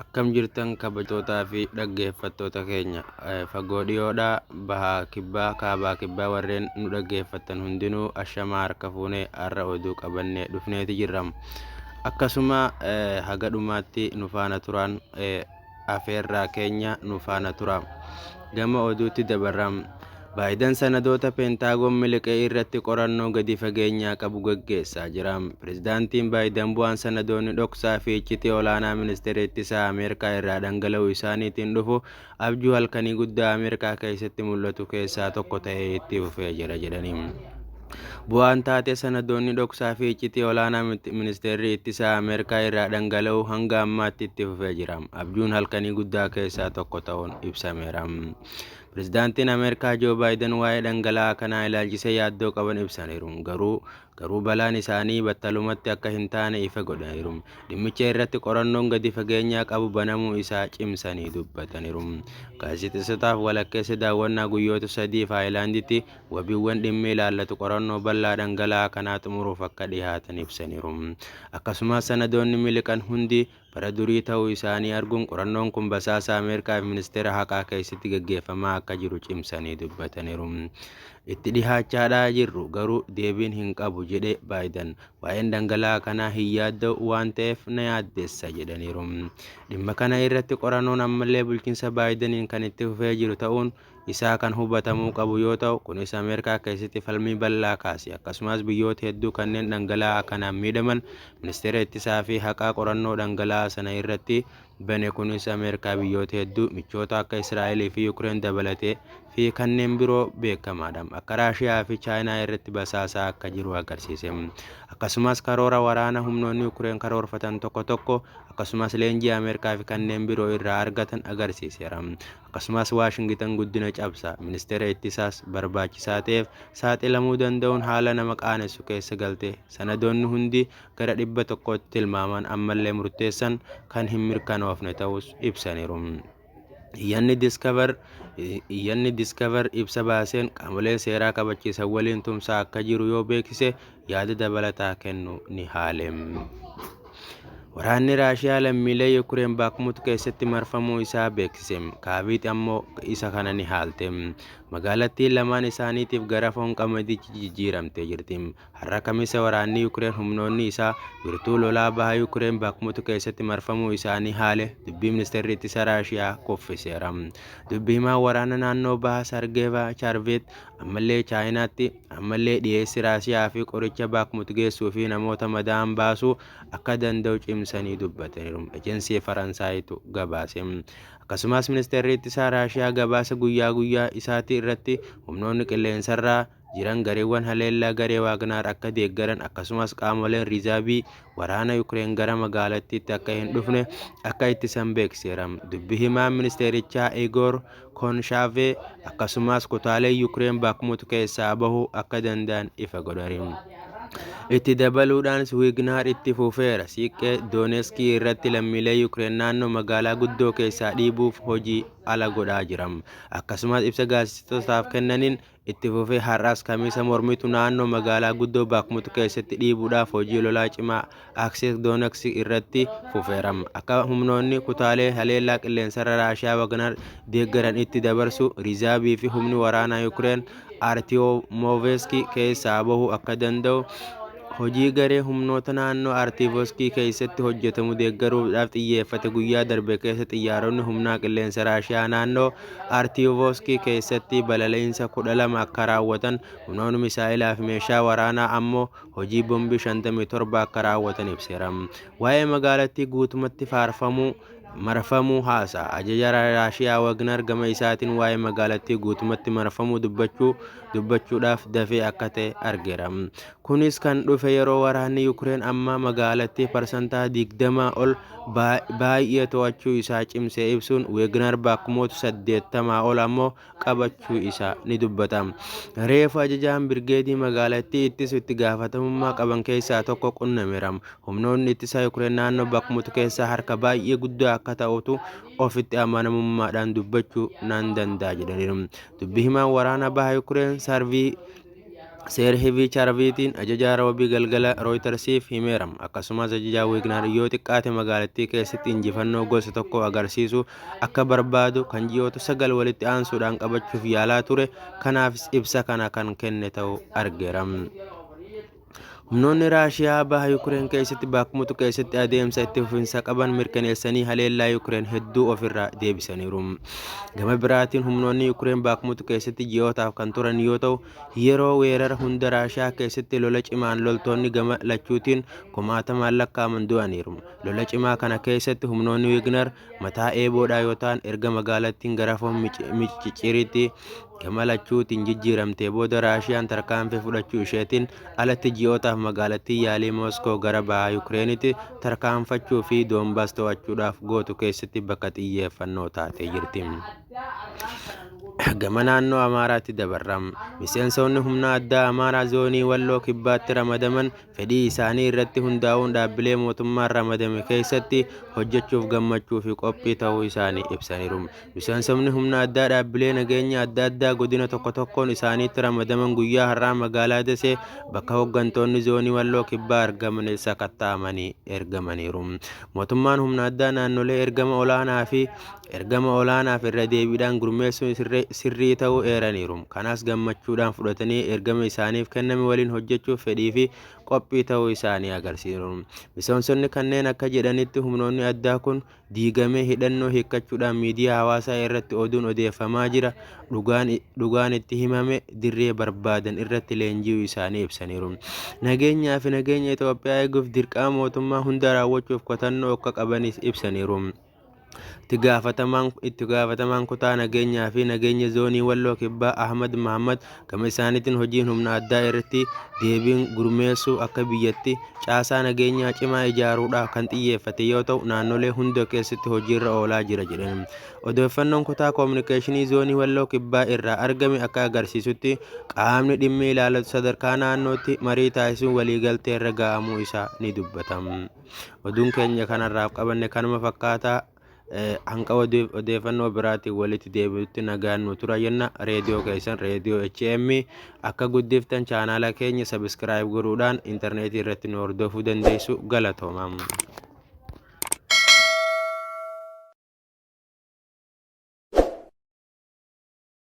Akkam jirtan kabajtootaa fi dhaggeeffattoota keenya Eh, fagoo dhiyoodha bahaa kibbaa kaabaa kibbaa warreen nu dhaggeeffattan hundinuu ashamaa harka fuune har'a oduu qabanne dhufneeti jirra akkasuma eh, haga dhumaatti nu faana turaan eh, afeerraa keenya nu faana tura gama oduutti dabarra Baayidan sanadoota Peentaagoon miliqe irratti qorannoo gadi fageenyaa qabu gaggeessaa jira. Pirezidaantiin Baayidan bu'aan sanadoonni dhoksaa fi iccitii olaanaa Ministeera Ittisaa Ameerikaa irraa dhangala'uu isaaniitiin dhufu abjuu halkanii guddaa Ameerikaa keessatti mul'atu keessaa tokko ta'ee itti fufee jira jedhani. Bu'aan taatee sanadoonni dhoksaa fi iccitii olaanaa Ministeerri Ittisaa Ameerikaa irraa dhangala'uu hanga ammaatti itti fufee jira. Abjuun halkanii guddaa keessaa tokko ta'uun ibsameera. Pirezidaantiin Ameerikaa Joo Baayidan waa'ee dhangala'aa kanaa ilaalchisee yaaddoo qaban ibsaniiru. Garuu garuu balaan isaanii battalumatti akka hin taane ifa godhaniiru. Dhimmicha irratti qorannoon gadi fageenyaa qabu banamuu isaa cimsanii dubbataniiru. Gaazexeessotaaf walakkeessa daawwannaa guyyoota sadiif Haayilaanditti wabiiwwan dhimmi ilaallatu qorannoo bal'aa dhangala'aa kanaa xumuruuf akka dhihaatan ibsaniiru. Akkasumas sanadoonni miliqan hundi bara durii ta'uu isaanii arguun qorannoon kun basaasa Ameerikaa fi Ministeera Haqaa keessatti gaggeeffamaa akka jiru cimsanii dubbataniiru. Itti dhihaachaadhaa jirru garuu deebiin hin qabu jedhe Baayidan. Waa'een dhangala'aa kanaa hin yaadda'u waan ta'eef na yaaddessa jedhaniiru. Dhimma kana irratti qorannoon ammallee bulchiinsa Baayidaniin kan itti fufee jiru ta'uun isaa kan hubatamuu qabu yoo ta'u, kunis Ameerikaa keessatti falmii bal'aa kaase. Akkasumas biyyoota hedduu kanneen dhangala'aa kanaan miidhaman Ministeera Ittisaa fi Haqaa qorannoo dhangala'aa sana irratti bane kunis Ameerikaa biyyoota hedduu michoota akka Israa'elii fi Yukireen dabalatee fi kanneen biroo beekamaadha. Akka Raashiyaa fi Chaayinaa irratti basaasaa akka jiru agarsiise. Akkasumas karoora waraana humnoonni Yukireen karoorfatan tokko tokko akkasumas leenjii Ameerikaa fi kanneen biroo irraa argatan agarsiiseera. Akkasumas Waashingitan guddina cabsaa Ministeera Ittisaas barbaachisaa ta'eef saaxilamuu danda'uun haala nama qaanessu keessa galte. Sanadoonni hundi gara 100tti tilmaaman ammallee murteessan kan hin mirkanoofne ta'uus ibsaniiru. Iyyanni Discover Iyyanni Discover ibsa baaseen qaamolee seeraa kabachiisan waliin tumsaa akka jiru yoo beeksise, yaada dabalataa kennu ni haale. Waraanni Raashiyaa lammiilee Yuukireen Baakmut keessatti marfamuu isaa beeksise. Kaaviit ammoo isa kana ni haalte. Magaalattiin lamaan isaaniitiif gara foon qamadiitti jijjiiramtee jirti. Har'a kamisa waraanni Yuukireen humnoonni isaa wirtuu lolaa baha Yuukireen Baakmut keessatti marfamuu isaanii haale dubbii ministeerri ittisa Raashiyaa kuffiseera. Dubbii himaa waraana naannoo baha Sargeeva Chaarveet Ammallee Chaayinaatti ammallee dhiyeessi Raashiyaa fi qoricha Baakmut geessuu fi namoota madaa'an baasuu akka danda'u cimsanii dubbataniiru. Ejensii Faransaayitu gabaase. Akkasumas ministeerri ittisaa Raashiyaa gabaasa guyyaa guyyaa isaatii irratti humnoonni qilleensarraa jiran gareewwan haleellaa garee Waagnaar akka deeggaran akkasumas qaamoleen riizaabii waraana Yukireen gara magaalattiitti akka hin dhufne akka ittisan beeksiseera. Dubbi himaan ministeerichaa Igoor Konshaavee akkasumas kutaalee Yukireen Baakmut keessaa bahuu akka danda'an ifa godhaniiru. Itti dabaluudhaanis Wiignaar itti fufeera. Siiqqee Dooneeskii irratti lammiilee Yukireen naannoo magaalaa guddoo keessaa dhiibuuf hojii ala godhaa jira. Akkasumas ibsa gaazexeessitootaaf kennaniin itti fufee har'aas kamiisa mormitu naannoo magaalaa guddoo Baakmut keessatti dhiibuudhaaf hojii lolaa cimaa Akseek Dooneeks irratti fufeeram. Akka humnoonni kutaalee haleellaa qilleensarra Raashiyaa Wagnar deeggaran itti dabarsu Rizaabii fi humni waraanaa Yukireen Artiyoomoveski keessaa bahuu akka danda'u hojii garee humnoota naannoo Artivoskii keessatti hojjetamu deeggaruudhaaf xiyyeeffate guyyaa darbe keessa xiyyaaronni humnaa qilleensa Raashiyaa naannoo Artiivoskii keessatti balaliinsa 12 akka raawwatan, hunoon misaa'ilaa fi meeshaa waraanaa ammoo hojii bombii 57 akka raawwatan ibseera. Waa'ee magaalattii guutumatti faarfamuu marfamuu haasa. Ajaja Raashiyaa Wagnar gama isaatiin waa'ee magaalattii guutumatti marfamuu dubbachuu dubbachuudhaaf dafee akka ta'e argeera. Kunis kan dhufe yeroo waraanni Yukireen amma magaalattii parsantaa 20 ol baay'ee to'achuu isaa cimsee ibsuun Weegnar bakkumoota 80 ol ammoo qabachuu isaa ni dubbata. Reefu ajajaan birgeedii magaalattii ittisu itti gaafatamummaa qaban keessaa tokko qunnameera. Humnoonni ittisaa Yukireen naannoo bakkumoota keessaa harka baay'ee guddaa akka ta'utu ofitti amanamummaadhaan dubbachuu nan danda'a jedhaniiru. Dubbi himaan waraana baha Yukireen sarvii Seerhivi Chaarviitiin ajajaa Roobii galgala Rooyitarsiif himeera. Akkasumas ajajaa Weegnaar yoo xiqqaate magaalattii keessatti injifannoo gosa tokko agarsiisu akka barbaadu kan ji'oota sagal walitti aansuudhaan qabachuuf yaalaa ture kanaafis ibsa kana kan kenne ta'uu argeera. Humnoonni Raashiyaa baha Yukireen keessatti Baakmutu keessatti adeemsa itti fufinsa qaban mirkaneessanii haleellaa Yukireen hedduu ofirraa deebisaniiru. Gama biraatiin humnoonni Yukireen Baakmutu keessatti ji'ootaaf kan turan yoo ta'u, yeroo weerara hunda Raashiyaa keessatti lola cimaan loltoonni gama lachuutiin kumaatamaan lakkaa'aman du'aniiru. Lola cimaa kana keessatti humnoonni Wigner mataa eeboodhaa yoo ta'an erga magaalattiin gara foon miciciriitti Gama lachuutiin jijjiiramtee booda Raashiyaan tarkaanfii fudhachuu isheetiin alatti ji'ootaaf magaalattii yaalii Mooskoo gara bahaa Yukireenitti tarkaanfachuu fi Doonbaas to'achuudhaaf gootu keessatti bakka xiyyeeffannoo taatee jirti. Gama naannoo Amaaraatti dabarra. Miseensonni humna addaa Amaaraa zoonii Walloo Kibbaatti ramadaman Fedhii isaanii irratti hundaa'uun dhaabbilee mootummaan ramadame keessatti hojjechuuf gammachuu fi qophii ta'uu isaanii ibsaniiru. Miseensonni humna addaa dhaabbilee nageenya adda addaa godina tokko tokkoon isaaniitti ramadaman guyyaa har'aa magaalaa Dasee bakka hooggantoonni zoonii Walloo Kibbaa argaman sakatta'amanii ergamaniiru. Mootummaan humna addaa naannolee ergama olaanaa fi ergama olaanaaf irra deebiidhaan gurmeessuun sirrii ta'uu eeraniiru. Kanas gammachuudhaan fudhatanii ergama isaaniif kenname waliin hojjechuuf fedhii fi qophii ta'uu isaanii agarsiiru. Miseensonni kanneen akka jedhanitti humnoonni addaa kun diigamee hidhannoo hiikkachuudhaan miidiyaa hawaasaa irratti oduun odeeffamaa jira. Dhugaan itti himame dirree barbaadan irratti leenji'uu isaanii ibsaniiru. Nageenyaa fi nageenya Itoophiyaa eeguuf dirqama mootummaa hunda raawwachuuf kutannoo akka qabanis ibsaniiru. Itti gaafatamaan kutaa nageenyaa fi nageenya zoonii Walloo Kibbaa Ahmad Mahammad gama isaaniitiin hojiin humna addaa irratti deebiin gurmeessuu akka biyyatti caasaa nageenyaa cimaa ijaaruudhaaf kan xiyyeeffate yoo ta'u naannolee hunda keessatti hojiirra oolaa jira jedhan. Odeeffannoon kutaa koominikeeshinii zoonii Walloo Kibbaa irraa argame akka agarsiisutti qaamni dhimmi ilaalatu sadarkaa naannootti marii taasisuun waliigaltee irra ga'amuu isaa ni dubbatama. Oduun keenya kanarraaf qabanne kanuma fakkaata. Eh, Hanqa ode- odeeffannoo biraatiin walitti deebi'utti nagaan nu tura jenna. Reediyoo keessan Reediyoo HM akka guddiftan chaanaala keenya sabiskiraayib godhuudhaan intarneetii irratti nu hordofuu dandeessu galatoomaa.